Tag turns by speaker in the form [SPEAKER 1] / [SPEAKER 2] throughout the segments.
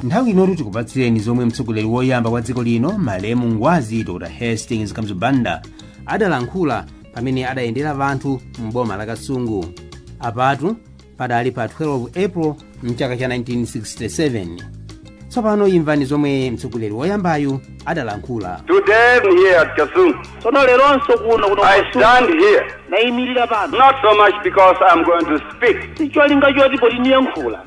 [SPEAKER 1] nthawi inotu tikupatsireni zomwe mtsogoleri woyamba wa dziko lino malemu ngwazi dr hastings kamuzu banda adalankhula pamene adayendera wanthu m'boma la kasungu apatu padali pa 12 april mchaka cha 1967 tsopano imvani zomwe mtsogoleri woyambayu adalankhula Today I'm
[SPEAKER 2] here at Kasungu. tsono leronso kuno kuno I Kasungu, stand here nayimirira pano not so much because I'm going to speak, sicholinga choti poti niyankhula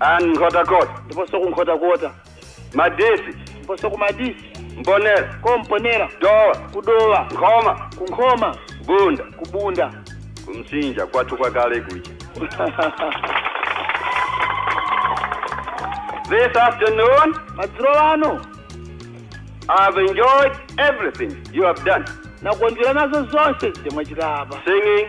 [SPEAKER 2] and Nkhotakota. ndiponso ku Nkhotakota. Madisi. ndiponso ku Madisi. Mponela. ku Mponela. Dowa. ku Dowa. Nkhoma. ku Nkhoma. Bunda. ku Bunda. ku Msinja kwathu kwa kale kuja. This afternoon, madzulo wano, I have enjoyed everything you have done. nakondwera nazo zonse zimene mwachita apa. Singing,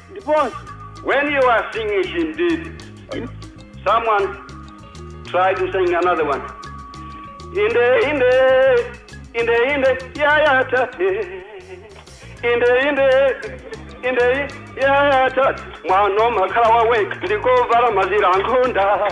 [SPEAKER 2] Ndiponso, when you are singing Shindig, someone try to sing another one. Inde, inde, inde, inde, ya ya tate. Inde, inde, inde, ya ya tate. Mwana makhala wawekha ndikovala mazira ankhunda.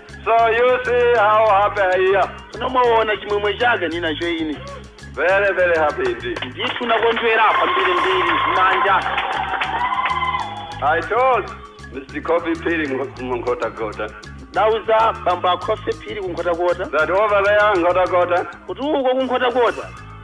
[SPEAKER 2] So you see how happy I am. Tsono mwaona chimwemwe chake ndinacho ine. Very, very happy indeed. Ndithu nakondwera kwambiri mbiri kumanja. I told Mr. Kofi Phiri in Nkhotakota Ndauza bambo a Kofi Phiri ku Nkhotakota that over there in Nkhotakota kuti uko ku Nkhotakota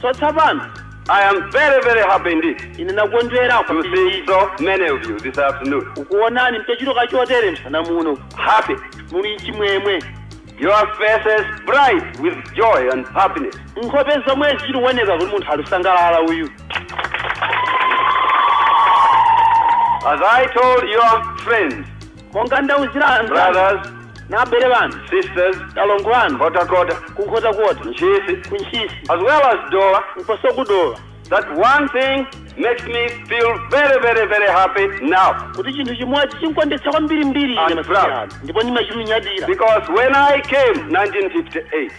[SPEAKER 2] So tsopano, I am very, very happy indeed. Ine nakondwera to see so many of you this afternoon. Kukuonani mtachitoka chotere msana muno. Happy. Muli chimwemwe. Your faces bright with joy and happiness. Nkhope zomwe zikuoneka kuti munthu alisangalala uyu. As I told your friends monga ndauzira anzanu brothers, na abale wanu sisters, alongo anu Kota Kota, kunkhota kota Ntchisi, ku ntchisi as well as Dowa, ndiponso ku Dowa that one thing makes me feel very, very, very happy now. kuti chinthu chimodzi chinkondwetsa kwambiri mbiri ine And masiku proud. ano ndipo ndimachimunyadira Because when I came 1958,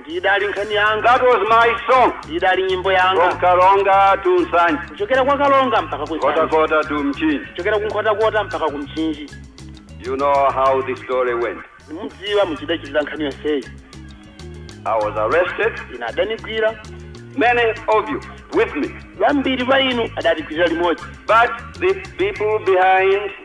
[SPEAKER 2] Ndi idali nkhani yanga. That was my song. Ndi idali nyimbo yanga. From Karonga to Nsanje. Kuchokera kwa Karonga mpaka ku Nsanje. Nkhotakota to Mchinji. Kuchokera ku Nkhotakota mpaka ku Mchinji. You know how the story went. Mudziwa mudachitikira nkhani yonseyi. I was arrested. Ine adanigwira. Many of you with me. Wambiri wa inu adatigwirira limodzi. But the people behind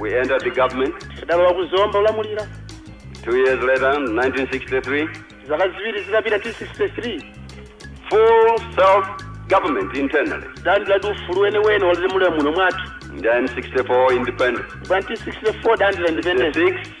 [SPEAKER 3] We entered the
[SPEAKER 2] government. Tidalowa ku Zomba kulamulira. Two years later, 1963. Zaka ziwiri zitapita 1963. Full self government internally. Tidalandila ufulu wene wene wodzilamulira muno mwathu. Then 64 independence. 1964 tidalandila independence.
[SPEAKER 3] 66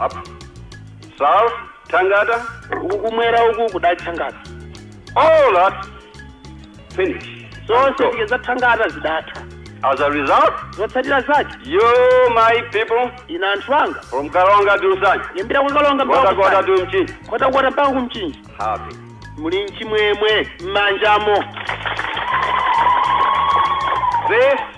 [SPEAKER 2] Up. South, Tangata. Uku
[SPEAKER 3] kumwera uku kudali thangata.
[SPEAKER 2] All that finish. Zonse
[SPEAKER 3] zija zathangata zidatha. As a result,
[SPEAKER 2] zotsatira zake you my people ina anthu anga from Karonga to Nsanje, kuyambira ku Karonga Kota Kota to Mchinji, Kotakota mpaka ku Mchinji happy. muli mchimwemwe m'manjamo This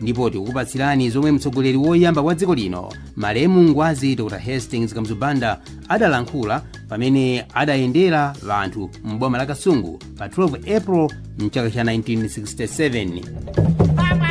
[SPEAKER 1] ndipo tikukupatsirani zomwe mtsogoleri woyamba wa dziko lino malemu ngwazi dr hastings kamuzu banda adalankhula pamene adayendera anthu m'boma la kasungu pa 12 april mchaka cha 1967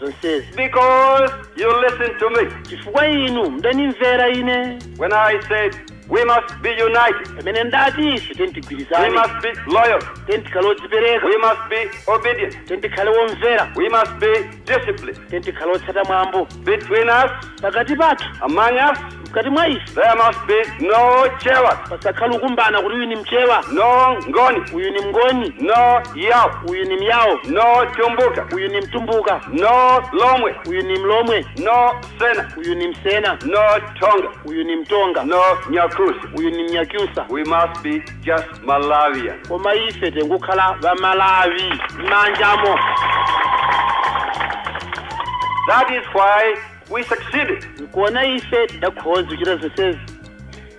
[SPEAKER 2] zonsezi Because you listen to me chifukwa inu mdanimvera ine when I said we must be united, pamene ndati ife tendigwirizane we must be loyal, tendikhale odzipereka we must be obedient, tendikhale womvera we must be disciplined tendikhale otsata mwambo between us pakati pathu. among us. mkati mwa ife. There must be no jealous, pasakhale ukumbana kuti uyu ni mchewa no ngoni, uyu ni mngoni no yao, uyu ni myawo no tumbuka, uyu ni mtumbuka no lomwe, uyu ni mlomwe no sena, uyu ni msena no tonga, uyu ni mtonga no nyakusi. uyu ni mnyakyusa We must be just Malawian. koma ife tengokhala Amalawi m'manjamo. That is why we succeeded. nkuona ife tidakhoza kuchita zonsezi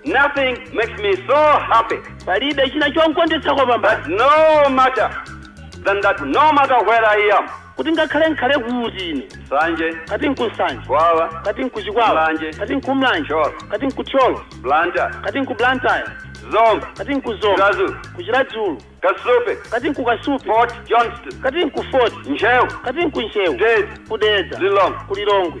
[SPEAKER 2] Nothing makes me so happy, palibe china chonkondweretsa kwapambana but no matter than that, no matter where I am, Kuti ngakhale n'khale kuti ine. Nsanje, Kati n'ku Nsanje. Chikwawa, Kati n'ku Chikwawa. Mulanje. Kati n'ku Mulanje. Thyolo. Kati n'ku Thyolo. Blantyre, Kati n'ku Blantyre. Zomba, Kati n'ku Zomba. Chiradzulu. Ku Chiradzulu. Kasupe, Kati n'ku Kasupe. Fort Johnston, Kati n'ku Fort. Ntcheu, Kati n'ku Ntcheu. Dedza. Ku Dedza. Lilongwe. Ku Lilongwe.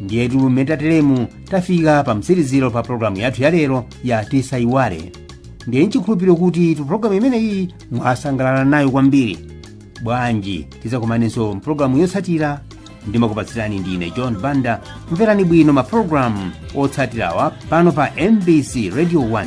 [SPEAKER 1] ndiyetu mmene tateremu tafika pa mtsiriziro pa pologalamu yathu yalero ya tisaiwale ndiye nchikhulupiriro kutitu pologalamu imeneyi mwasangalala nayo kwambiri bwanji tidzakumanenso mpologalamu yotsatira ndimakupatsirani ndine john banda mverani bwino mapologalamu otsatirawa pano pa mbc radio 1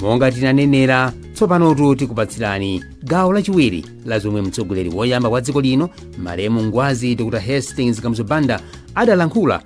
[SPEAKER 1] monga tinanenera tsopanotu tikupatsirani gawo lachiwiri la zomwe mtsogoleri woyamba wa dziko lino malemu ngwazi dr hastings kamuzu banda adalankhula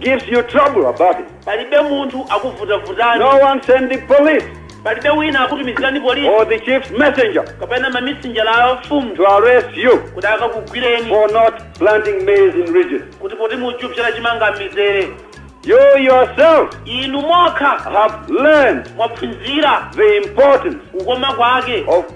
[SPEAKER 2] gives you trouble about it. palibe
[SPEAKER 3] munthu akuvutavutani No one sends
[SPEAKER 2] the police palibe wina
[SPEAKER 3] akutumizirani polisi or the chief's messenger
[SPEAKER 2] kapena mamisinjala
[SPEAKER 3] a mfumu to arrest you
[SPEAKER 2] kuti akakugwireni
[SPEAKER 3] for not
[SPEAKER 2] planting maize in ridges. kuti poti
[SPEAKER 3] muchupsera chimanga m'mizere
[SPEAKER 2] You yourself inu mokha
[SPEAKER 3] have learned
[SPEAKER 2] mwaphunzira the
[SPEAKER 3] importance
[SPEAKER 2] kukoma kwake
[SPEAKER 3] of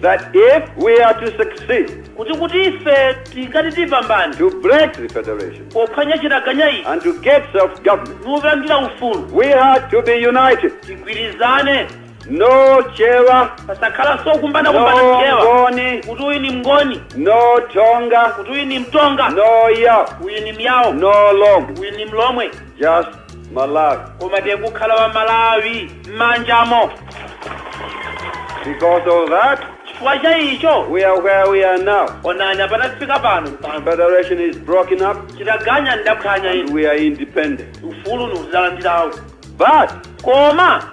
[SPEAKER 3] that if
[SPEAKER 2] we are to succeed kuti kuti ife
[SPEAKER 3] tikati tipambane to break the
[SPEAKER 2] federation pophwanya chitaganya
[SPEAKER 3] ichi and to get self-government,
[SPEAKER 2] nupangira ufulu
[SPEAKER 3] we had to be
[SPEAKER 2] united. tigwirizane
[SPEAKER 3] No
[SPEAKER 2] Chewa, pasakhalanso kumbana
[SPEAKER 3] kumbana no mchewa Ngoni, kuti uyu ni
[SPEAKER 2] mngoni
[SPEAKER 3] no Tonga,
[SPEAKER 2] kuti uyu ni mtonga
[SPEAKER 3] no Yao,
[SPEAKER 2] uyu ni myawo no
[SPEAKER 3] Lom, uyu ni
[SPEAKER 2] mlomwe
[SPEAKER 3] just
[SPEAKER 2] Malawi. koma
[SPEAKER 3] tikukhala wa malawi
[SPEAKER 2] m'manjamo Because of that, chifukwa cha icho
[SPEAKER 3] we are where we are
[SPEAKER 2] now. onani apa
[SPEAKER 3] tafika pano Federation
[SPEAKER 2] is broken up chitaganya
[SPEAKER 3] ndidaphwanya and inu we are independent.
[SPEAKER 2] ufulu niuzalandirawo
[SPEAKER 3] But
[SPEAKER 2] koma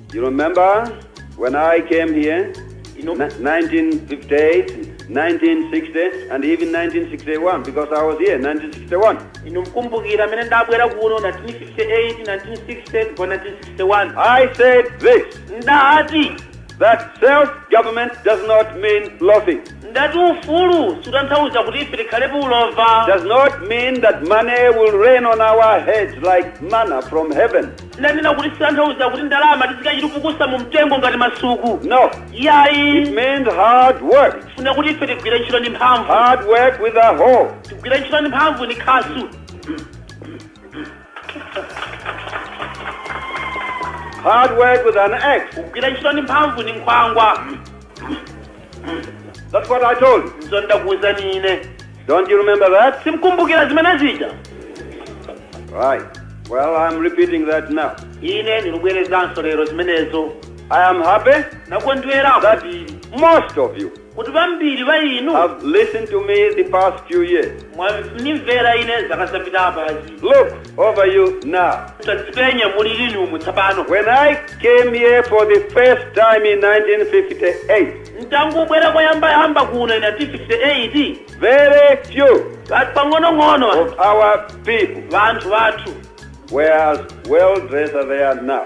[SPEAKER 3] You
[SPEAKER 2] remember when I came here? Inu- Ni- 1958, 1960, and even 1961, because I was here 1961. inu mkumbukira
[SPEAKER 3] amene ndabwera kuno 1958 1960 kwa 1961 I
[SPEAKER 2] said this
[SPEAKER 3] ndati
[SPEAKER 2] that self government does not mean loafing, ndati
[SPEAKER 3] ufulu sutanthauza kuti ife tikhale pa ulova does not mean
[SPEAKER 2] that money will rain on our heads like manna from heaven. Ndanena kuti
[SPEAKER 3] sitanthauza kuti ndalama tizikachita pukusa mu mtengo ngati masuku No. yayi.
[SPEAKER 2] It means
[SPEAKER 3] hard
[SPEAKER 2] work. Funa kuti ife tigwire
[SPEAKER 3] ntchito ndi mphamvu. Hard work with a
[SPEAKER 2] hoe. Tigwire ntchito ndi
[SPEAKER 3] mphamvu ni
[SPEAKER 2] khasu. Hard work with an axe. Kugwira ntchito ndi mphamvu
[SPEAKER 3] ni nkhwangwa.
[SPEAKER 2] That's what I told you. Izo ndakuwuzani ine.
[SPEAKER 3] Don't you remember
[SPEAKER 2] that? Simkumbukira zimene zija. Right. Well, I'm repeating that now. Ine ndikubwerezanso
[SPEAKER 3] lero zimenezo. I am happy.
[SPEAKER 2] Nakondwera
[SPEAKER 3] kwambiri.
[SPEAKER 2] Most of
[SPEAKER 3] you.
[SPEAKER 2] Kuti vambiri va
[SPEAKER 3] inu. Have listened to me
[SPEAKER 2] the past few years. Mwanimvera
[SPEAKER 3] ine zaka zapita apazi. Look.
[SPEAKER 2] over you now. tadzipenya
[SPEAKER 3] mulili umu tsapano When I
[SPEAKER 2] came here for the first time in 1958, ntangubwera
[SPEAKER 3] kuyambayamba kuno ina 58 very
[SPEAKER 2] few kati
[SPEAKER 3] pang'onong'ono of our
[SPEAKER 2] people vanthu vathu
[SPEAKER 3] were as
[SPEAKER 2] well dressed as they are now.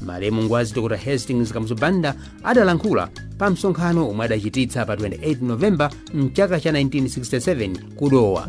[SPEAKER 1] malemu ngwazi dr hastings kamuzu banda adalankhula pa msonkhano omwe adachititsa pa 28 novemba mchaka cha 1967 ku dowa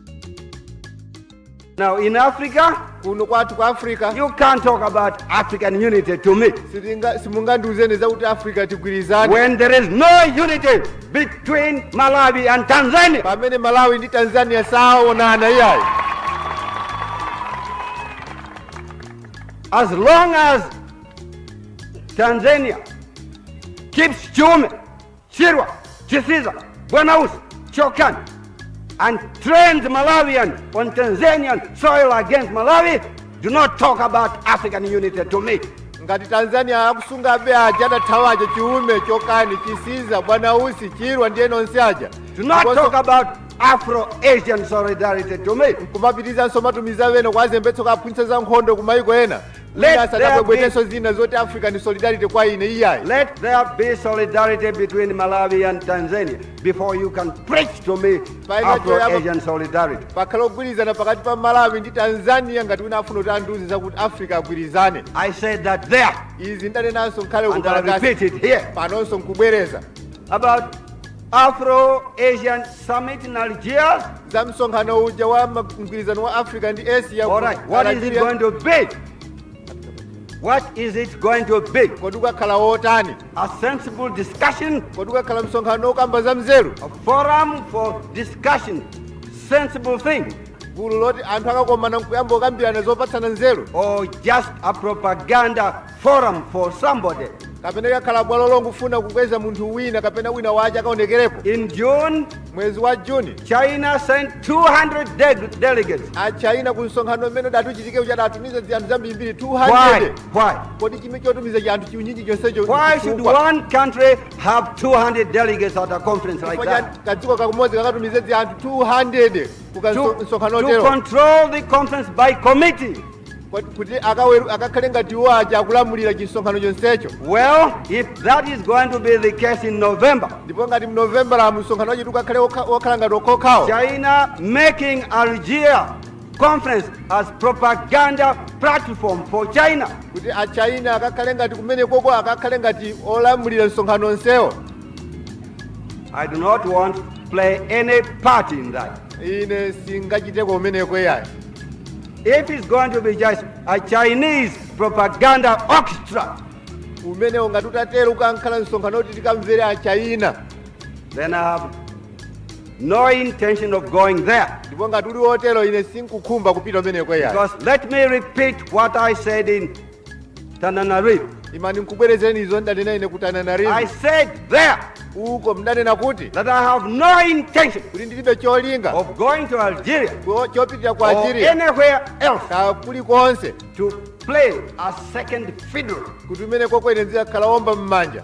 [SPEAKER 2] Now in Africa, kuno kwathu ku africa you can't talk about African unity to me. sitinga- simungandiuzeni zakuti africa tigwirizane When there is no unity between Malawi and Tanzania. pamene malawi ndi tanzania saonana iyayi As long as Tanzania keeps Chiume Chirwa, Chisiza, Bwana Usi, Chokani, and trains Malawians on Tanzanian soil against Malawi. Do not talk about African unity to me. ngati tanzania
[SPEAKER 4] akusunga aba aja adathawa aja chiume chokani chisiza bwana usi chirwa ndiye nonse aja Do not Ndiponso talk
[SPEAKER 2] about Afro-Asian solidarity to me. kumapitizanso kumatumiza
[SPEAKER 4] ena kwazembetso kaphunzitsa za nkhondo kumayiko ena asadzabwebwetenso zina zoti african solidarity kwa
[SPEAKER 2] ine iyayi Let there be solidarity between Malawi and Tanzania before you can preach to me Afro Asian solidarity. pakhale ugwirizano pakati pa malawi ndi tanzania ngati wina afuna kuti andiuze zakuti africa agwirizane I said that there, izi ndanenanso kale and I kukalakasi repeat it here, panonso nkubwereza about Afro Asian summit in Algiers? za msonkhano uja wa ma- mgwirizano wa africa ndi asia ku All right, what is it Algeria. going to be? What is it going to be? kodi ukakhala wotani A sensible discussion, kodi ukakhala msonkhano wokamba za mzeru a forum for discussion, sensible things, gulu loti anthu akakomana nkuyamba kukambirana zopatsana nzeru or just a propaganda forum for somebody. kapena likakhala bwalo longofuna kukweza munthu wina kapena wina wace akaonekereko In June, mwezi wa juni China sent 200 de- delegates. achaina ku msonkhano umene udati uchitike uja adatumiza anthu ambirimbiri Why? 200 Why? kodi chimene chotumizira anthu chiunyinji chonsecho Why should chifukwa? one country have 200 delegates at a conference like Chifukwa cha that? kadziko kamodzi kakatumize anthu 200 ku To, msonkhano to otero control the conference by committee. Kut- kuti akaweru- akakhale ngati iwo aja akulamulira chimsonkhano chonsecho Well, if that is going to be the case in November, ndipo ngati mnovembala msonkhano wachetu ukakhale wokha- wokhala ngati wokomawo China making Algeria conference as propaganda platform for China. kuti achina akakhale ngati kumene koko akakhale ngati olamulira msonkhano wonsewo I do not want to play any part in that. ine sindingachiteko umeneko iyayi If it's going to be just a Chinese propaganda orchestra. umenewo ngati utatero ukakhala msonkhano woti tikamvere achayina Then I have no intention of going there. ndipo ngati uli wotero ine sinkukhumba kupita umeneko yayi Because let me repeat what I said in Tananarive. imani nkubwerezeni izo ndidanena ine ku I tananarive said there uko ndidanena kuti that I have no intention kuti ndilibe cholinga of going to Algeria ko- chopitira ku or algeria anywhere else kaya kulikonse to play a second fiddle. kuti kumeneko kwakwene ndikakhala womba m'manja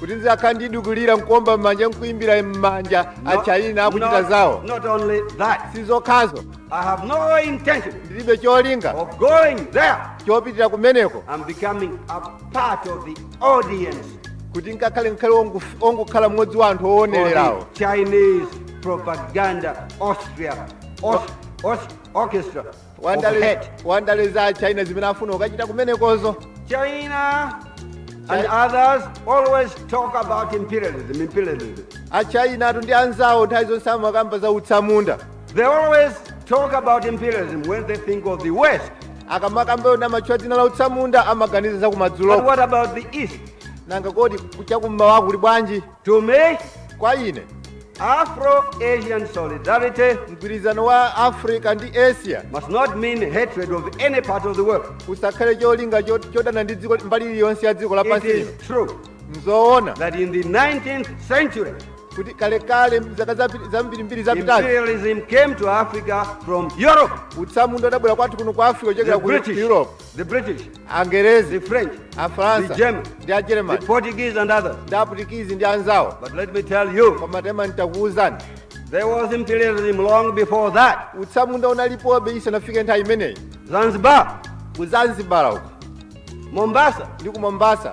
[SPEAKER 2] kuti ndizakhala ndizikulira nkuomba m'manja nkuimbira m'manja a Chayina akuchita zawo not only that, si zokhazo I have no intention ndilibe cholinga of going there chopitira kumeneko and becoming a part of the audience kuti nkakhale nkhale ongu- ongokhala mmodzi wa anthu for owonererawo the Chinese propaganda Austria Aus- Aus-
[SPEAKER 5] orchestra. Wandale-
[SPEAKER 4] hate. wandale
[SPEAKER 5] za
[SPEAKER 4] china zimene afuna kukachita kumenekozo
[SPEAKER 5] China and Chi- others always talk about imperialism, imperialism. achinatu
[SPEAKER 4] ndi anzawo nthawi zonse amakamba za utsamunda They
[SPEAKER 5] always talk about imperialism when they think of the West. akamakamba
[SPEAKER 4] wona amatchula dzina la utsamunda amaganiza za But kumadzulo what about
[SPEAKER 5] the
[SPEAKER 4] East?
[SPEAKER 5] nanga kodi
[SPEAKER 4] kuchakummawa kuli bwanji To
[SPEAKER 5] me, kwa
[SPEAKER 4] ine
[SPEAKER 5] Afro-Asian solidarity mgwirizano
[SPEAKER 4] wa africa ndi asia must not mean
[SPEAKER 5] hatred of any part of the world. usakhale cholinga
[SPEAKER 4] cho- chodana ndi dziko mbali iliyonse ya dziko It lapansi lino is
[SPEAKER 5] true nzoona
[SPEAKER 4] that in
[SPEAKER 5] the 19th century, kuti
[SPEAKER 4] kalekale zaka zapi- zambirimbiri zapitazi imperialism came to
[SPEAKER 5] Africa from Europe. utsamunda udabwera
[SPEAKER 4] kwathu kuno ku africa kuchokera The ku British. europe
[SPEAKER 5] The
[SPEAKER 4] British,
[SPEAKER 5] the angerezi
[SPEAKER 4] French, the
[SPEAKER 5] afaransa
[SPEAKER 4] German, ndi
[SPEAKER 5] the
[SPEAKER 4] ajeremani
[SPEAKER 5] Portuguese,
[SPEAKER 4] and others. ndi
[SPEAKER 5] aputikizi ndi
[SPEAKER 4] anzawo But let me tell you,
[SPEAKER 5] koma taimani
[SPEAKER 4] nitakuwuzani there was
[SPEAKER 5] imperialism long before that. utsamunda
[SPEAKER 4] unalipobe isanafike nthawi imeneyi Zanzibar,
[SPEAKER 5] ku zanzibar
[SPEAKER 4] uko Mombasa,
[SPEAKER 5] ndi ku mombasa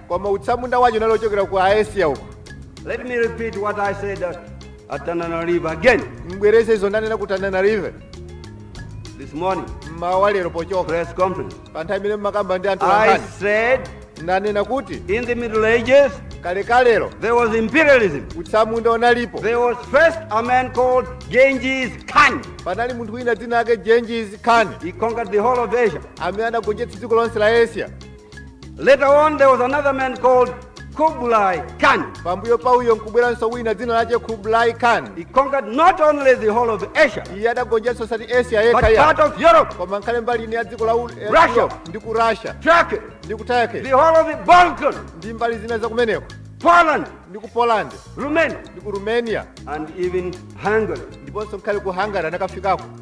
[SPEAKER 5] koma
[SPEAKER 4] utsamunda wace unali ocokera ku Asia uko. Let me
[SPEAKER 5] repeat what I said at, at Tananarive again Mbwereze izo ndanena
[SPEAKER 4] ku Tananarive
[SPEAKER 5] this morning, mmawa lero pocoka
[SPEAKER 4] press conference. pa
[SPEAKER 5] nthawi imene mmakamba
[SPEAKER 4] ndi anthu I a nkhani said
[SPEAKER 5] ndanena
[SPEAKER 4] kuti in the Middle
[SPEAKER 5] Ages,
[SPEAKER 4] kalekalero there was
[SPEAKER 5] imperialism. utsamunda
[SPEAKER 4] unalipo There was
[SPEAKER 5] first a man called Genghis Khan. panali munthu wina
[SPEAKER 4] dzina lake Genghis Khan He conquered the whole of
[SPEAKER 5] Asia. amene anagonjetsa dziko
[SPEAKER 4] lonse la Asia
[SPEAKER 5] Later on, there was another man called Kublai Khan. pambuyo pa
[SPEAKER 4] uyo nkubweranso wina dzina lace kublai khan He conquered not
[SPEAKER 5] only the whole of Asia, iye adagonjetsa osati
[SPEAKER 4] asia but yekha part ya of Europe,
[SPEAKER 5] koma
[SPEAKER 4] nkhale
[SPEAKER 5] mbali ina ya
[SPEAKER 4] dziko la U- eh, Russia. Europe, ndi
[SPEAKER 5] ku
[SPEAKER 4] russia Turkey, ndi
[SPEAKER 5] ku turkey
[SPEAKER 4] the whole of the
[SPEAKER 5] Balkans, ndi mbali
[SPEAKER 4] zina zakumeneko Poland, ndi
[SPEAKER 5] ku poland
[SPEAKER 4] Romania, ndi ku
[SPEAKER 5] romania
[SPEAKER 4] and even
[SPEAKER 5] Hungary. ndiponso nkhale ku
[SPEAKER 4] hungary anakafikako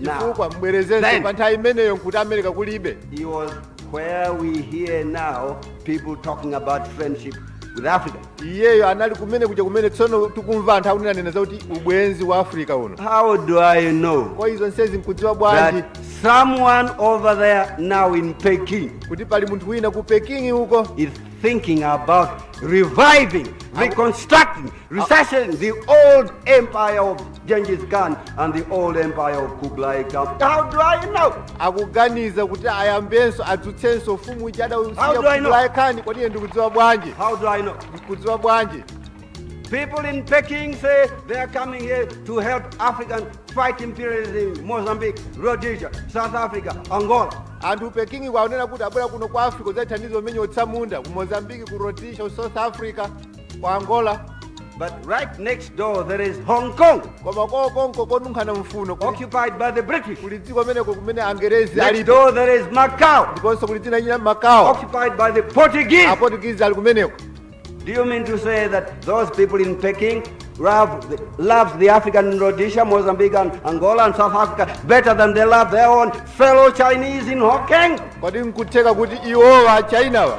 [SPEAKER 5] Now, chifukwa then-
[SPEAKER 4] mbwerezenso pa nthawi
[SPEAKER 5] imeneyo
[SPEAKER 4] nkuti america kulibe It
[SPEAKER 5] was where we hear now people talking about friendship with Africa. iyeyo anali kumene
[SPEAKER 4] kuja kumene tsono tikumva anthu akunenanena zakuti ubwenzi wa africa uno How do
[SPEAKER 5] I know kwa izo zonsezi
[SPEAKER 4] nkudziwa bwanji that
[SPEAKER 5] someone over there now in Peking kuti pali munthu wina
[SPEAKER 4] ku peking uko is thinking
[SPEAKER 5] about reviving, reconstructing resuscitating the old empire of Genghis Khan and the old empire of Kublai Khan. How do I know?
[SPEAKER 4] akuganiza kuti ayambenso adzutsenso ufumu uja How do I know? adausiya
[SPEAKER 5] Khan kodi
[SPEAKER 4] ine
[SPEAKER 5] ndikudziwa
[SPEAKER 4] bwanji How do I know? ndikudziwa
[SPEAKER 5] bwanji People in Peking say they are coming here to help Africans fight imperialism in Mozambique, Rhodesia, South Africa, Angola. anthu a ku pekingi
[SPEAKER 4] akunena kuti abwera kuno ku africa kudzathandiza kumenya atsamunda ku mozambiki ku rhodesia ku south africa ku angola But
[SPEAKER 5] right next door there is Hong Kong, koma
[SPEAKER 4] kokonko konunkhana mfuno kuli- occupied by the
[SPEAKER 5] British. kuli dziko kumeneko kumene
[SPEAKER 4] angerezi Next alipo door there is Macau,
[SPEAKER 5] ndiponso kuli dzina lina
[SPEAKER 4] macao occupied by the
[SPEAKER 5] Portuguese. aportugizi ali kumeneko
[SPEAKER 4] Do you
[SPEAKER 5] mean to say that those people in Peking love the, love the African in Rhodesia, Mozambique, and Angola, and South Africa better than they love their own fellow Chinese in Hong Kong? kodi nkutheka kuti
[SPEAKER 4] iwowa achinawa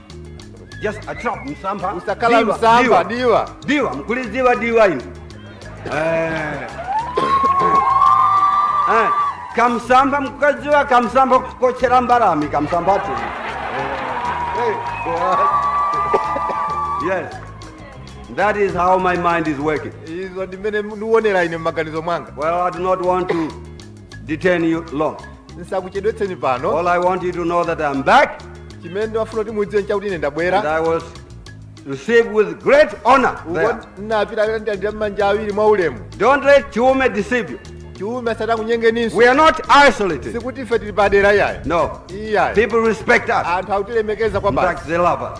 [SPEAKER 5] just a trap msampha usakhala Diwa, msampha
[SPEAKER 4] diwa. diwa diwa
[SPEAKER 5] mukulidziwa diwa inu Eh. Eh, kamsampha mukukadziwa kamsampha kotchera mbalame kamsamphatu Eh, yes that is how my mind is working izo ndi mmene ndiwonera ine m'maganizo mwanga well i do not want to detain you long. ndisakuchedwetseni pano All I want you to know that I'm back chimene ndimafuna kuti mudziwe nchakuti ine and ndabwera I was received with great honor. uko there. ndinapita akandilandira ndi manja awiri mwa ulemu Don't let Chiume deceive you. chiume asati akunyengeninso We are not isolated. sikuti ife tili padera iyayi No. iyayi People respect us. anthu akutilemekeza In kwambiri fact, they love us.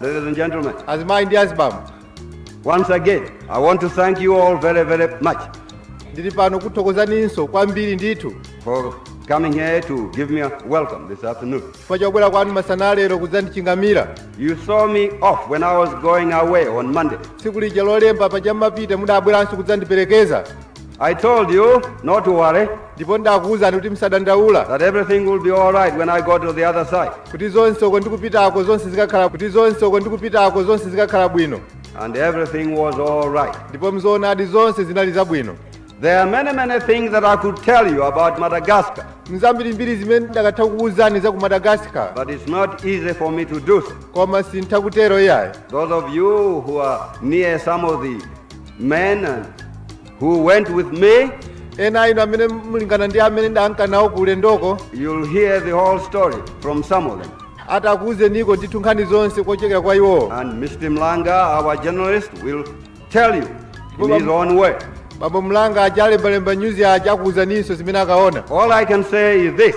[SPEAKER 5] Ladies and gentlemen, azimayi ndi azibambo. Once again, I want to thank you all very, very much. Ndili pano kuthokozaninso kwambiri ndithu. For coming here to give me a welcome this afternoon. Chifukwa chobwera kwanu masana a lero kudzandichingamira. You saw me off when I was going away on Monday. Tsiku lija lolemba paja ndimapita mudabweranso kudzandiperekeza. I told you not to worry, ndipo ndidakuwuzani kuti musadandaula that everything will be all right when I go to the other side. kuti zonse uko ndikupitako zonse zikakhala kuti zonse uko ndikupitako zonse zikakhala bwino And everything was all right. ndipo nzoonadi zonse zinali zabwino There are many, many things that I could tell you about Madagascar, nzambirimbiri zimene ndakatha kukuwuzani za ku madagasikar but it's not easy for me to do so. koma sintha kutero iyayi Those of you who are near some of the men who went with me, ena inu amene mulingana ndi amene ndidanka nawo ku ulendoko you'll hear the whole story from some of them. atakuuzeniko ndithu nkhani zonse kuchokera kwa iwowo And Mr. Mlanga, our journalist, will tell you in his own way. bambo mlanga achalembalemba nyuzi aja akuuzaninso zimene akaona All I can say is this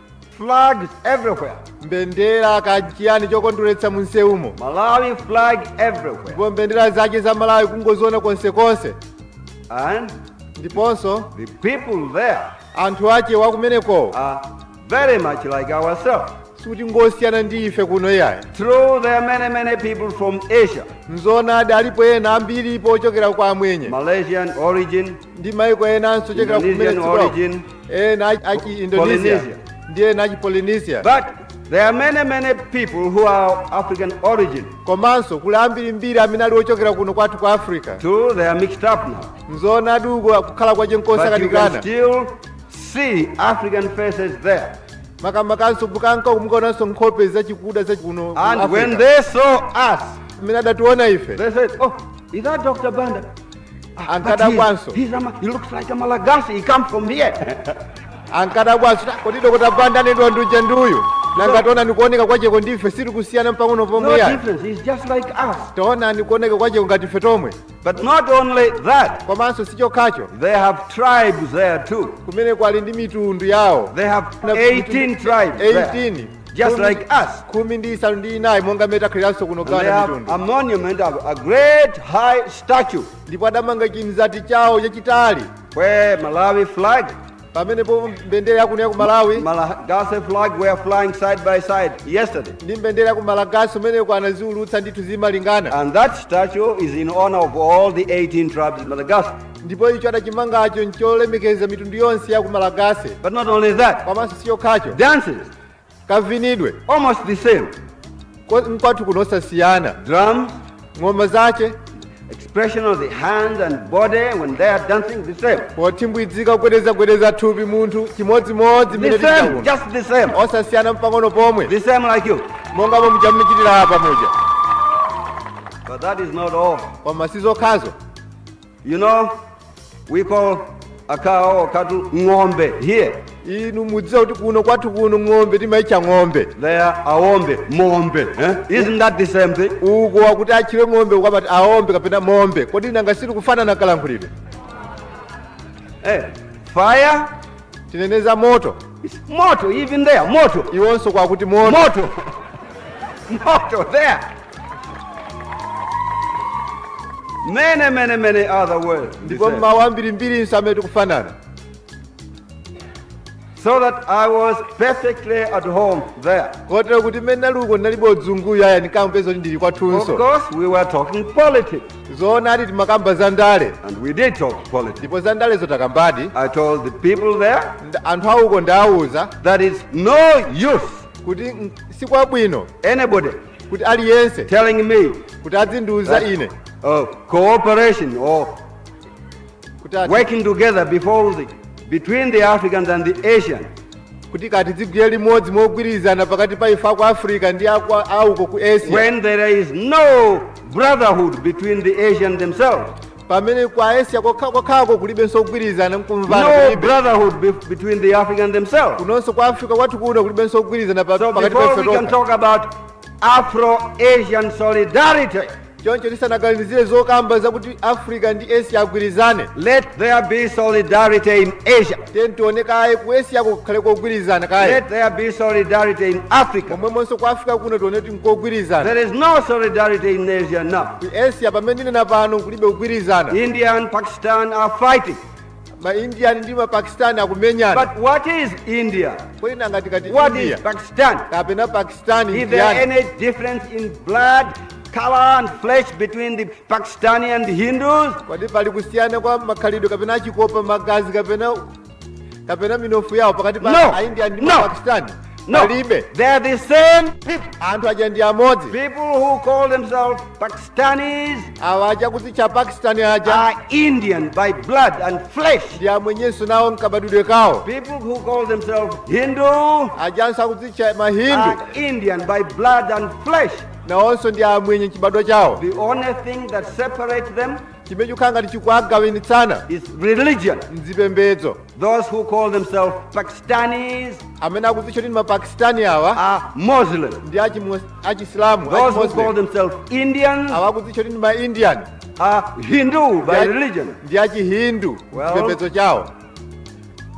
[SPEAKER 5] flags everywhere mbendera kachiyani chokondweretsa munsewumo malawi flag everywhere ndipo mbendera zache za malawi kungoziona konsekonse and ndiponso the people there anthu ache wakumenekowo are very much like ourselves sikuti ngosiyana ndi ife kuno iyayi true there are many many people from asia nzoonadi alipo ena ambiripo ochokera kwa amwenye malaysian origin ndi maiko enanso chokera kumene Indonesian dziko lawo. origin, ena achi- achi indonesia Polynesia. ndi ena achi polynesia But there are many, many people who are of African origin. komanso kuli ambirimbiri amene ali ochokera kuno kwathu ku africa True, they are mixed up now. nzoonadi uko kukhala kwache But you can nkosakanikana still see African faces there. makamakanso mukanka uko mukaonanso nkhope zachikuda zachikuno ku And when Africa. they saw us, amene adationa ife they said, Oh, is that Dr. Banda? ankadabwanso ankadabwanso kodi dokota banda anenedwa uja nduyu nanga taonani kuoneka kwacheko ndife siri kusiyana mpang'ono pomwe ya taonani kuoneka kwacheko ngati ife tomwe But not only that, komanso si chokhacho they have tribes there too. kumeneko ali ndi mitundu yawo They have Na- 18 tribes. there. 18 just Khumi- like us. khumi ndi isanu ndi inayi monga mmene takhaliranso kuno And they gana have mitundu a monument of a great high statue ndipo adamanga chimzati chawo chachitali where Malawi flag, pamenepo mbendera yakuno ya ku malawi Malagasy flag were flying side by side yesterday. ndi mbendera ya ku malagasi kumeneko anaziulutsa ndithu zimalingana And that statue is in honor of all the 18 tribes in Madagascar. ndipo icho adachimangacho ncholemekeza mitundu yonse ya ku malagase But not only that, komanso si chokhacho dances, kavinidwe almost the same. ko- nkwathu kuno osasiyana Drums, ng'oma zache expression of the hands and body when they are dancing, the same. pothimbwidzika kugwedezagwedeza thupi munthu chimodzimodzi mmene The same, tichita kuno just the same. osasiyana mpang'ono pomwe The same like you. monga momwe muchitira apa muja But that is not all. koma si zokhazo You know, we call a cow or cattle ng'ombe here. inu mudziwa kuti
[SPEAKER 4] kuno kwathu kuno ng'ombe timaitcha ng'ombe There aombe,
[SPEAKER 5] mombe. Eh? Isn't that the same thing? uko wakuti
[SPEAKER 4] atchire ng'ombe uko amati aombe kapena mombe kodi nanga sili kufanana kalankhulidwe Hey,
[SPEAKER 5] fire tinene
[SPEAKER 4] za moto. It's
[SPEAKER 5] moto even there moto iwonso kwakuti
[SPEAKER 4] moto
[SPEAKER 5] moto moto there many many many other words ndipo mmawu
[SPEAKER 4] ambirimbirinso amene
[SPEAKER 5] tikufanana so that i was perfectly at home there kotero kuti mmene ndinali
[SPEAKER 4] uko ndinalibe udzunguyu aya ndinkapeza kuti ndili of kwathunso course we were
[SPEAKER 5] talking politics zoonadi
[SPEAKER 4] timakamba za ndale and we did
[SPEAKER 5] talk politics. ndipo za ndalezo
[SPEAKER 4] tidakambadi I told the people
[SPEAKER 5] there Nda- anthu auko
[SPEAKER 4] ndidawauza that it's no
[SPEAKER 5] use kuti
[SPEAKER 4] mm, si kwabwino
[SPEAKER 5] anybody kuti
[SPEAKER 4] aliyense telling
[SPEAKER 5] me kuti adzindiwuza
[SPEAKER 4] that, ine oh, cooperation
[SPEAKER 5] or kuti ati- working together before the, between the Africans and the Asians. kuti kaya
[SPEAKER 4] tizigwira limodzi mogwirizana pakati pa ife aku africa ndi auko ku asia When there is no
[SPEAKER 5] brotherhood between the Asians themselves, pamene
[SPEAKER 4] ku asia kokha- kokhako kulibenso kugwirizana nkumvana no kulibe. brotherhood
[SPEAKER 5] bef- between the Africans themselves. kunonso kwa africa kwathu
[SPEAKER 4] kuno kulibenso kugwirizana pa- So pakati pa before ife we can tokha talk
[SPEAKER 5] about Afro-Asian solidarity, choncho
[SPEAKER 4] tisanaganizire zokamba zakuti africa ndi asia agwirizane let there be
[SPEAKER 5] solidarity in asia tiyeni tione kaye ku
[SPEAKER 4] asia kukhale kogwirizana kaye let there be
[SPEAKER 5] solidarity in africa momwemonso ku africa kuno
[SPEAKER 4] tione kuti nkogwirizana there is no
[SPEAKER 5] solidarity in asia now ku asia pamene ndinena
[SPEAKER 4] pano kulibe kugwirizana india and pakistan
[SPEAKER 5] are fighting ma india
[SPEAKER 4] ndi ma pakistan akumenyana But what
[SPEAKER 5] is India? kodi nanga
[SPEAKER 4] tikati What is india Pakistan? kapena
[SPEAKER 5] pakistan
[SPEAKER 4] Is there indian any
[SPEAKER 5] difference in blood, color, and flesh between the Pakistani and the Hindus? kodi pali
[SPEAKER 4] kusiyana kwa makhalidwe kapena achikopa magazi kapena minofu yawo pakati pa No. a india ndi No. ma pakistan No,
[SPEAKER 5] Palibe. they are the same people, anthu aja ndi
[SPEAKER 4] amodzi people who
[SPEAKER 5] call themselves Pakistanis awa aja
[SPEAKER 4] akudzitcha pakistani aja are Indian
[SPEAKER 5] by blood and flesh. ndi amwenyenso
[SPEAKER 4] nawo mkabadwidwe kawo People who
[SPEAKER 5] call themselves Hindu ajanso
[SPEAKER 4] akudzitcha mahindu are Indian by
[SPEAKER 5] blood and flesh. nawonso ndi
[SPEAKER 4] amwenye chibadwa chawo The only thing that
[SPEAKER 5] separates them chimene chikukhala
[SPEAKER 4] ngati chikuwagawanitsana is
[SPEAKER 5] religion.
[SPEAKER 4] nzipembedzo Those who call
[SPEAKER 5] themselves Pakistanis amene akuzitcha
[SPEAKER 4] kuti ndi mapakistani awa are Muslim.
[SPEAKER 5] ndi
[SPEAKER 4] achimu- achisilamu Those who achimoslim.
[SPEAKER 5] call themselves Indians awa akuzitcha kuti
[SPEAKER 4] ndi maindian are Hindu
[SPEAKER 5] by religion. ndi achihindu
[SPEAKER 4] Well- chipembedzo chawo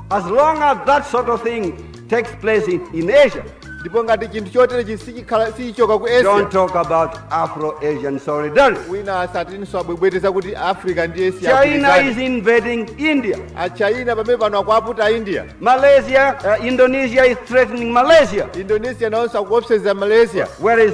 [SPEAKER 5] as long as that sort of thing takes place in, in asia ndipo ngati
[SPEAKER 4] chinthu choterechi sichikhala sichichoka ku asia don't talk about
[SPEAKER 5] afro-asian solidarity wina asatinso
[SPEAKER 4] abwebwete zakuti africa ndi asia china is agwirizane.
[SPEAKER 5] invading india achina pamene
[SPEAKER 4] pano akuaputa india malaysia uh,
[SPEAKER 5] indonesia is threatening malaysia indonesia nawonso
[SPEAKER 4] akuopseza malaysia whereas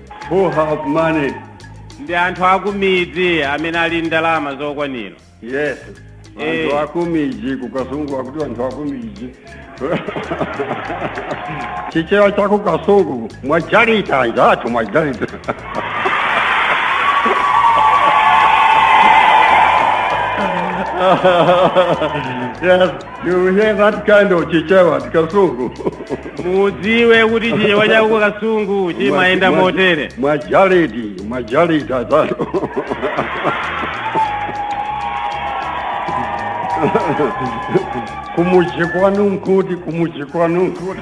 [SPEAKER 6] who have money. ndi
[SPEAKER 2] anthu akumidzi amene ali ndalama zokwanira Yes.
[SPEAKER 6] Eh. Anthu akumidzi ku Kasungu akuti anthu akumidzi. Chichewa cha ku Kasungu mwajalita njatu mwajalita. yes. You hear that kind of chichewa ku Kasungu.
[SPEAKER 2] mudziwe kuti chichewa cha ku Kasungu chimayenda motere Majalidi,
[SPEAKER 6] majalidi atatu. Kumuchi kwanu nkuti, kumuchi kwanu
[SPEAKER 2] nkuti.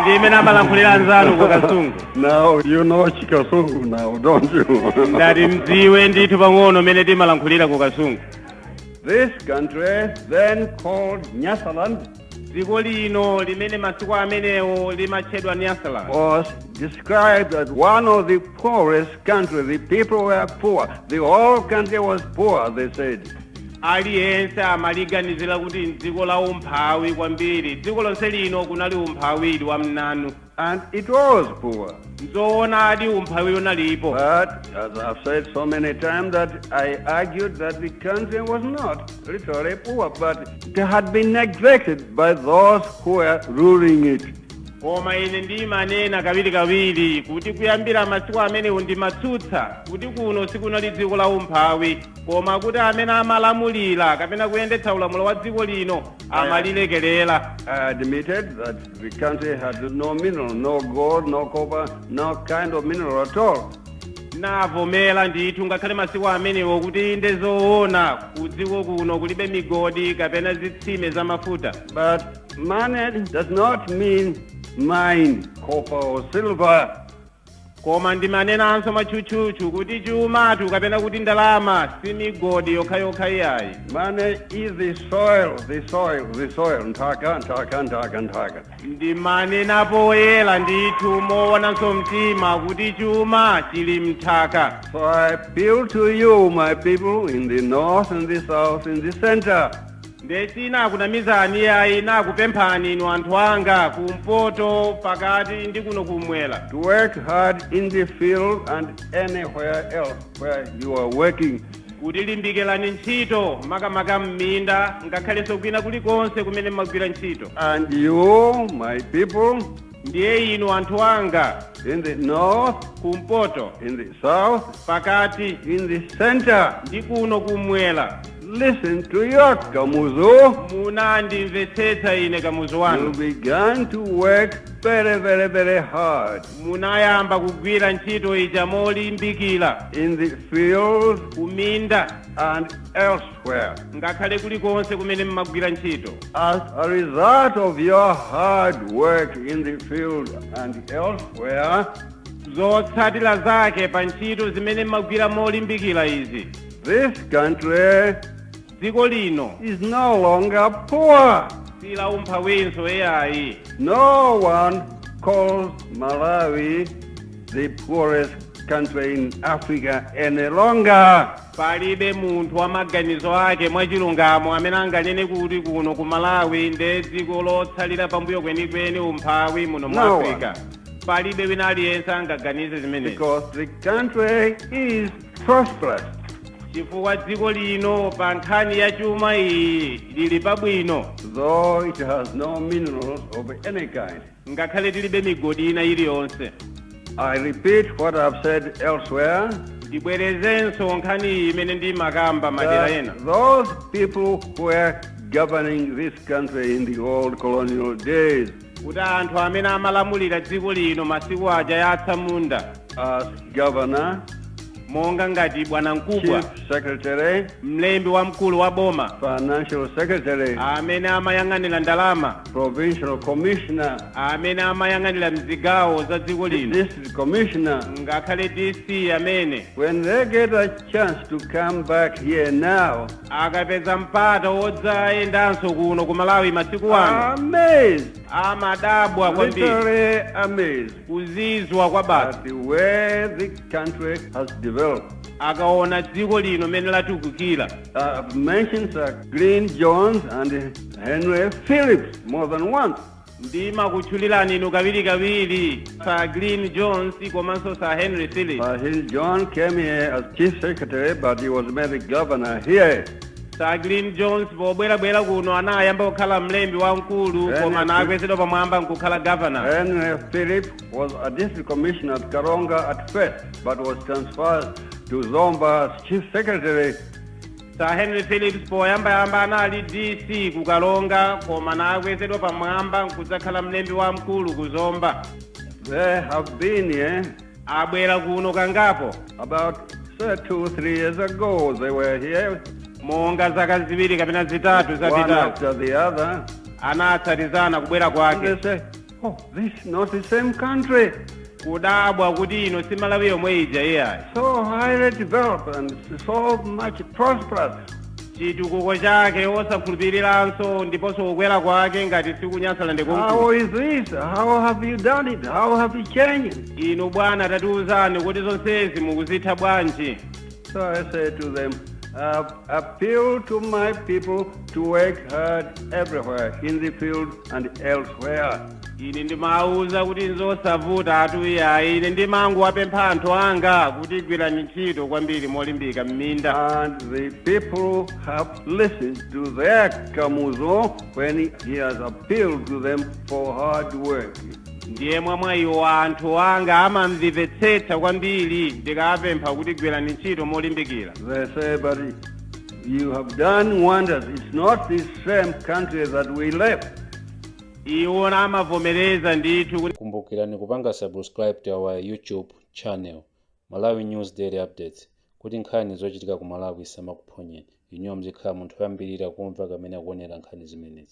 [SPEAKER 2] ndi mmene amalankhulira anzanu ku Kasungu Now you
[SPEAKER 6] know Chikasungu now, don't you? ndati
[SPEAKER 2] mdziwe ndithu pang'ono mene timalankhulira ku kasungu
[SPEAKER 6] this country, then called Nyasaland, dziko lino
[SPEAKER 2] limene masiku amenewo limatchedwa nyasaland
[SPEAKER 6] was described as one of the poorest countries. The people were poor. The whole country was poor, they
[SPEAKER 2] said. aliyense amaliganizira kuti mdziko la umphawi kwambiri dziko lonse lino kunali umphawi wa mnanu And it
[SPEAKER 6] was poor. Nzoona
[SPEAKER 2] adi umphawi unalipo. But as
[SPEAKER 6] I've said so many times that I argued that the country was not literally poor, but it had been neglected by those who were ruling it. koma
[SPEAKER 2] ine ndimanena kawiri kawiri kuti kuyambira masiku amenewo ndimatsutsa kuti kuno sikunali dziko la umphawi koma kuti amene amalamulira kapena kuyendetsa ulamuliro wa dziko lino amalilekerera I admitted
[SPEAKER 6] that The country had no mineral, no gold, no copper, no kind of mineral at all. ndinavomera
[SPEAKER 2] ndithu ngakhale masiku amenewo kuti ndi zoona kudziko kuno kulibe migodi kapena zitsime za mafuta
[SPEAKER 6] But money does not mean mine, copper or silver. Koma
[SPEAKER 2] ndimanenanso mwatchutchutchu kuti chumatu kapena kuti ndalama si migodi yokhayokha iyayi. Money is
[SPEAKER 6] the soil, the soil, the soil. Nthaka, nthaka, nthaka, nthaka. Ndimanena
[SPEAKER 2] poyera ndithu moonanso mtima kuti chuma chili m'nthaka. So I appeal
[SPEAKER 6] to you, my people, in the north, in the south, in the center.
[SPEAKER 2] Nde sinakunamizani iyayi nakupemphani inu anthu anga ku mpoto, pakati ndi kuno kummwera. to work hard
[SPEAKER 6] in the field and anywhere else where you are working. kuti
[SPEAKER 2] limbikirani ntchito makamaka mminda ngakhalenso kwina kulikonse kumene mmagwira ntchito. And you,
[SPEAKER 6] my people. Ndiye
[SPEAKER 2] inu anthu anga. in the
[SPEAKER 6] north, kumpoto,
[SPEAKER 2] in the
[SPEAKER 6] south, pakati, in
[SPEAKER 2] the center,
[SPEAKER 6] ndi kuno
[SPEAKER 2] kumwera. listened to
[SPEAKER 6] your Kamuzu. Munandimvetsetsa
[SPEAKER 2] ine Kamuzu wanu. You began
[SPEAKER 6] to work very, very, very hard
[SPEAKER 2] Munayamba kugwira ntchito ija molimbikira in the
[SPEAKER 6] fields kuminda
[SPEAKER 2] and
[SPEAKER 6] elsewhere. where, ngakhale kulikonse
[SPEAKER 2] kumene mmagwira ntchito as a
[SPEAKER 6] result of your hard work in the field and elsewhere, zotsatira
[SPEAKER 2] zake pa ntchito zimene mmagwira molimbikira izi this country
[SPEAKER 6] dziko
[SPEAKER 2] lino is no longer
[SPEAKER 6] poor. si la
[SPEAKER 2] umphawinso eyayi No
[SPEAKER 6] one calls Malawi the poorest country in Africa any longer.
[SPEAKER 2] Palibe munthu wa maganizo ake mwachilungamo amene anganene kuti kuno ku Malawi nde dziko lotsalira pambuyo kwenikweni umphawi muno mu Africa. No one. Palibe wina aliyense angaganize zimenezi.
[SPEAKER 6] Because the country is prosperous.
[SPEAKER 2] Chifukwa dziko lino pa nkhani ya chuma iyi lili pabwino. Though it
[SPEAKER 6] has no minerals of any kind. ngakhale
[SPEAKER 2] tilibe migodi ina iliyonse.
[SPEAKER 6] I repeat what I have said elsewhere.
[SPEAKER 2] ndibwerezenso nkhaniyi imene ndimakamba madera ena those people
[SPEAKER 6] who were governing this country in the old colonial days kuti
[SPEAKER 2] anthu amene amalamulira dziko lino masiku aja ya atsamunda
[SPEAKER 6] as governor
[SPEAKER 2] monga ngati bwana mkubwa chief secretary
[SPEAKER 6] mlembi wamkulu
[SPEAKER 2] wa boma financial secretary
[SPEAKER 6] amene amayang'anira
[SPEAKER 2] ndalama
[SPEAKER 6] provincial commissioner,
[SPEAKER 2] amene amayang'anira mzigawo za dziko lino district
[SPEAKER 6] commissioner, ngakhale
[SPEAKER 2] DC amene when they get a
[SPEAKER 6] chance to come back here now, akapeza
[SPEAKER 2] mpata wodzayendanso kuno ku Malawi masiku ano are
[SPEAKER 6] amazed,
[SPEAKER 2] amadabwa kwambiri literally
[SPEAKER 6] amazed kuzizwa
[SPEAKER 2] kwabasi at the
[SPEAKER 6] way the country has developed. akaona
[SPEAKER 2] dziko lino mmene latukukira I've mentioned
[SPEAKER 6] Sir Glyn Jones and Henry Phillips more than once. ndimakutchulirani
[SPEAKER 2] inu kawirikawiri sir green jones komanso sir henry phillips Uh, Hill John
[SPEAKER 6] came here as chief secretary, but he was made the governor here. sir green
[SPEAKER 2] jones pobwerabwera kuno anayamba kukhala mlembi wamkulu Henry koma Phillips. anakwezedwa pamwamba nkukhala governor Henry Phillips
[SPEAKER 6] was a district commissioner at Karonga at first, but was transferred to Zomba as chief secretary
[SPEAKER 2] Sir Henry Phillips poyambayamba anali DC ku Karonga koma anakwezedwa pamwamba nkudzakhala mlembi wamkulu ku Zomba. They
[SPEAKER 6] have been here. Abwera kuno
[SPEAKER 2] kangapo
[SPEAKER 6] about say, two, three years ago they were here, monga zaka
[SPEAKER 2] ziwiri kapena zitatu zapitazo one after the other.
[SPEAKER 6] anatsatizana
[SPEAKER 2] kubwera kwake. And they say,
[SPEAKER 6] oh, this is not the same country
[SPEAKER 2] kudabwa kuti ino si Malawi yomwe ija iyayi so highly
[SPEAKER 6] developed and so much prosperous chitukuko
[SPEAKER 2] chake osakhulupiriranso ndiponso kukwera kwake ngati si ku Nyasaland konkuno how is
[SPEAKER 6] this how have you done it how have you changed inu bwana
[SPEAKER 2] tatiuzani
[SPEAKER 6] kodi
[SPEAKER 2] zonsezi mukuzitha
[SPEAKER 6] bwanji So
[SPEAKER 2] I say
[SPEAKER 6] to
[SPEAKER 2] them, uh,
[SPEAKER 6] appeal to my people to work hard everywhere, in the field and elsewhere. ine
[SPEAKER 2] ndimawuza kuti nzosavuta atuya ine ndimangowapempha anthu anga kuti gwirani ntchito kwambiri molimbika m'minda And the
[SPEAKER 6] people have listened to their Kamuzu when he has appealed to them for hard work. ndiye
[SPEAKER 2] mwa mwayiwo anthu anga amamvetsetsa kwambiri ndikapempha kuti gwirani ntchito molimbikira They say, but
[SPEAKER 6] you have done wonders. It's not the same country that we left.
[SPEAKER 2] iwo amavomereza ndithu kuti kumbukirani
[SPEAKER 7] kupanga subscribe to our youtube channel malawi news daily updates kuti nkhani zochitika ku malawi zisamakuphonyeni inuyo muzikhala munthu woyambirira kumva kamene akuonera nkhani zimenezi